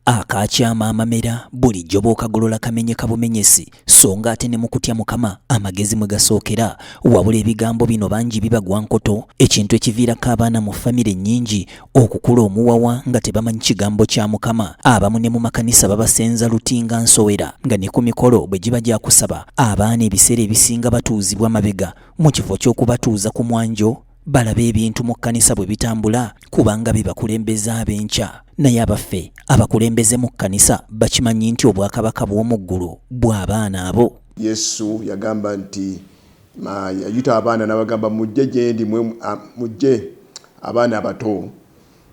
Akaakyama amamera bulijjo bw'okagolola kamenyeka bumenyesi, so nga ate ne mu kutya Mukama amagezi mwe gasookera. Wabula ebigambo bino bangi bibagwa nkoto, ekintu ekiviirako abaana mu famire nnyingi okukula omuwawa nga tebamanyi kigambo kya Mukama. Abamu ne mu makanisa babasenza luti nga nsowera, nga ne ku mikolo bwe giba gya kusaba, abaana ebiseera ebisinga batuuzibwa mabega mu kifo ky'okubatuuza ku mwanjo. balabe ebintu mu kkanisa bwe bitambula kubanga be bakulembeze ab'enkya naye abaffe abakulembeze mu kkanisa bakimanyi nti obwakabaka bw'omu ggulu bw'abaana abo yesu yagamba nti yayita abaana n'abagamba mujje gyendi mujje abaana abato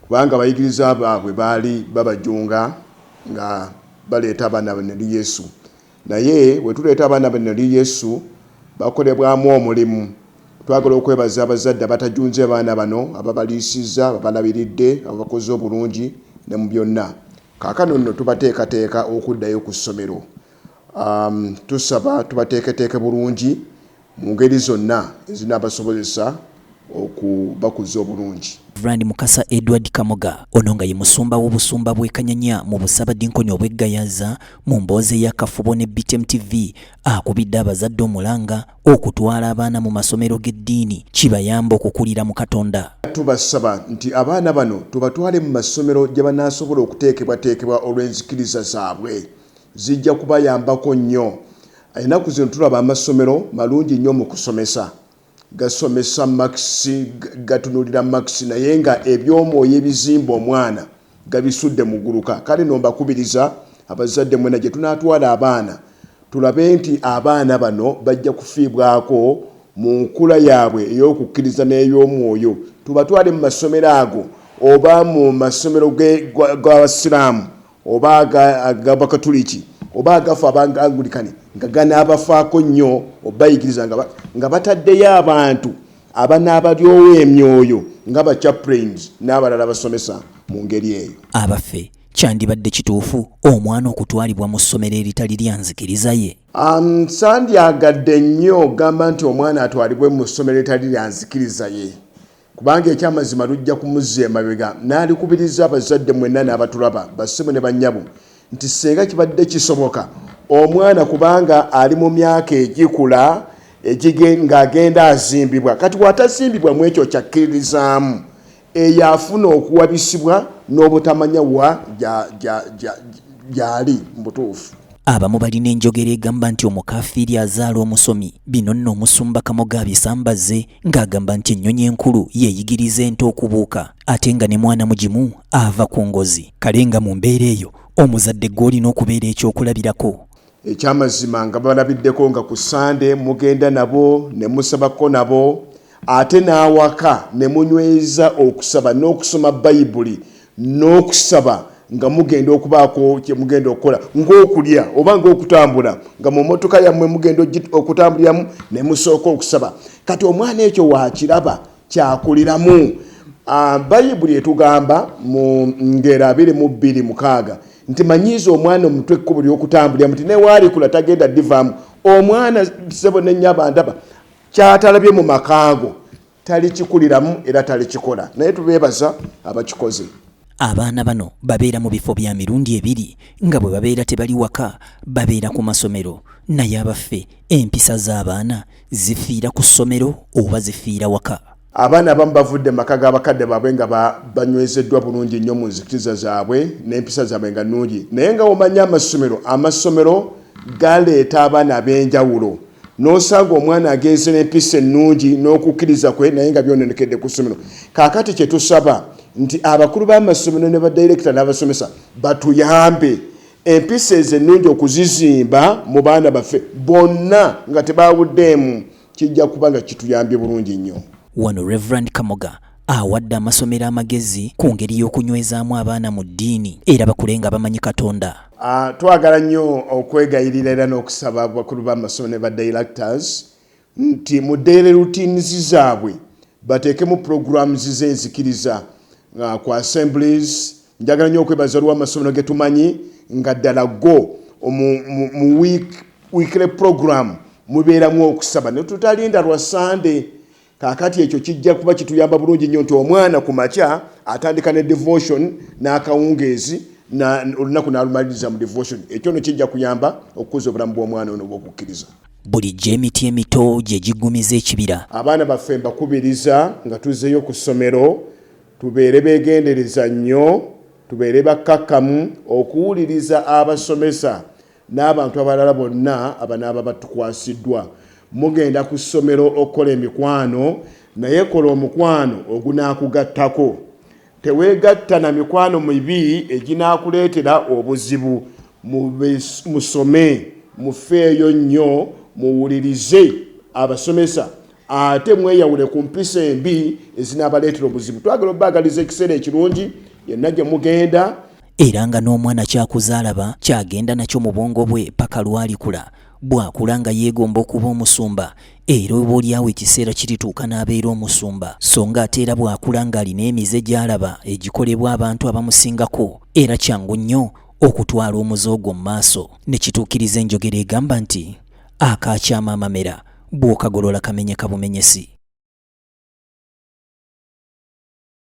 kubanga abayigiriza baabwe baali babajunga nga baleeta abaana bane eri yesu Naye bwe tuleeta abaana bano eri Yesu bakolebwamu omulimu. Twagala okwebaza abazadde abatajunze baana bano, ababaliisizza, ababalabiridde, ababakoze obulungi ne mu byonna. Kaakano nno tubateekateeka okuddayo ku ssomero. Tusaba tubateeketeeke bulungi. mu ngeri zonna ezinaabasobozesa okubakuza obulungi. Rev. Mukasa Edward Kamoga, ono nga ye musumba w'obusumba bw'e Kanyanya mu busaabadinkoni obw'e Gayaza, mu mboozi ey'akafubo ne BTM TV akubidde abazadde omulanga okutwala abaana mu masomero g'eddiini kibayambe okukulira mu Katonda. Tubasaba nti abaana bano tubatwale mu masomero gye banaasobola okuteekebwateekebwa olw'enzikiriza zaabwe. Zijja kubayambako nnyo. Enaku zino tulaba amasomero malungi nyo mukusomesa, gasomesa marks, gatunulira marks naye nga ebyomwoyo ebizimba omwana gabisudde muguluka. Kale no mbakubiriza abazadde mwena gyetunatwala abaana tulabe nti abaana bano bajja kufiibwako munkula yabwe eyokukiriza neyomwoyo. Tubatwale mumasomero ago oba mumasomero gabasiramu oba aga Bakatuliki oba agafa abanga Angulikani nga ganaabafaako nnyo obayigiriza nga bataddeyo abantu abanaabalyowo emyoyo nga ba chaplains n'abalala abasomesa mu ngeri eyo. Abaffe, kyandibadde kituufu omwana okutwalibwa mu ssomero eritali lya nzikiriza ye? Um, sandyagadde nnyo ogamba nti omwana atwalibwe mu ssomero eritali lya nzikiriza ye. Kubanga eky'amazima lujja kumuzza emabega. Naalikubirizza abazadde mwenna n'abatulaba, bassebo ne bannyabo, nti ssinga kibadde kisoboka, omwana kubanga ali mu myaka egikula, egige, ng'agenda azimbibwa. Kati bw'atazimbibwa mu ekyo ky'akkiririzaamu, eyo afuna okuwabisibwa n'obutamanya wa gya, gya, gya, gy'ali mu butuufu. Abamu balina enjogera egamba nti omukaafiiri azaala omusomi. Bino nno Omusumba Kamoga abisambazze ng'agamba nti ennyonyi enkulu yeeyigiriza ente okubuuka ate nga ne mwana mugimu ava ku ngozi kale nga mu mbeera eyo omuzadde gw'olina okubeera ekyokulabirako ekyamazima nga balabiddeko nga ku sande mugenda nabo ne musabako nabo ate n'awaka ne munyweza okusaba n'okusoma bayibuli n'okusaba nga mugenda okubaako kye mugenda okukola ng'okulya oba ng'okutambula nga mu mmotoka yammwe mugenda okutambuliramu ne musooka okusaba kati omwana ekyo waakiraba kyakuliramu ah, bayibuli etugamba mu ngero abiri mu bbiri mukaaga nti manyiiza omwana omutwe ekkubo ly'okutambuliramu nti newaalikula tagenda divaamu omwana sebo nennyaba ndaba kyatalabye mu makaago talikikuliramu era talikikola naye tubeebaza abakikoze. Abaana bano babeera mu bifo bya mirundi ebiri nga bwe babeera tebali waka babeera ku masomero naye abaffe empisa z'abaana zifiira ku ssomero oba zifiira waka? Abaana abamu bavudde mu maka g'abakadde baabwe nga banywezeddwa bulungi nnyo mu nzikiriza zaabwe n'empisa zaabwe nga nnungi naye nga omanya amasomero amasomero galeeta abaana ab'enjawulo n'osanga omwana agenze n'empisa ennungi n'okukkiriza kwe naye nga byononekedde ku ssomero kaakati kye tusaba nti abakulu b'amasomero ne badirekita n'abasomesa batuyambe empisa ezo ennungi okuzizimba mu baana baffe bonna nga tebaawuddeemu kijja kuba nga kituyambye bulungi nnyo wano reverand kamoga awadde amasomero amagezi ku ngeri y'okunywezaamu abaana mu ddiini era bakule nga bamanyi katonda ah, twagala nnyo okwegayirira era n'okusaba abakulu b'amasomero ne ba directors nti mu daily routines zaabwe bateekemu programs z'enzikiriza ah, ku assemblies njagala nnyo okwebaza olwa amasomero ge tumanyi nga ddala go mu weekly program mubeeramu okusaba netutalinda lwa sande Kaakati ekyo kijja kuba kituyamba bulungi nnyo nti omwana ku makya atandika ne devotion n'akawungeezi olunaku n'alumaliriza mu devotion. Ekyo no kijja kuyamba okukuza obulamu bw'omwana ono obw'okukkiriza. Bulijjo emiti emito gye giggumiza ekibira. Abaana baffe mbakubiriza nga tuzzeeyo ku ssomero tubeere beegendereza nnyo, tubeere bakkakkamu okuwuliriza abasomesa. n'abantu abalala bonna abanaaba batukwasiddwa. Mugenda ku ssomero okukola emikwano naye kola omukwano ogunaakugattako. Teweegatta na mikwano mibi eginaakuleetera obuzibu. Musome, mufeeyo nnyo, muwulirize abasomesa ate mweyawule ku mpisa embi ezinaabaleetera obuzibu. Twagala obaagaliza ekiseera ekirungi yenna gye mugenda. era nga n'omwana kyakuza alaba kyagenda nakyo mu bwongo bwe paka lwalikula bw'akula nga yeegomba okuba omusumba era oba olyawo ekiseera kirituuka n'abeera omusumba so nga ate era bw'akula ng'alina emize gy'alaba egikolebwa abantu abamusingako era kyangu nnyo okutwala omuze ogwo mu maaso ne kituukiriza enjogera egamba nti akaakyama amamera bw'okagolola kamenyeka bumenyesi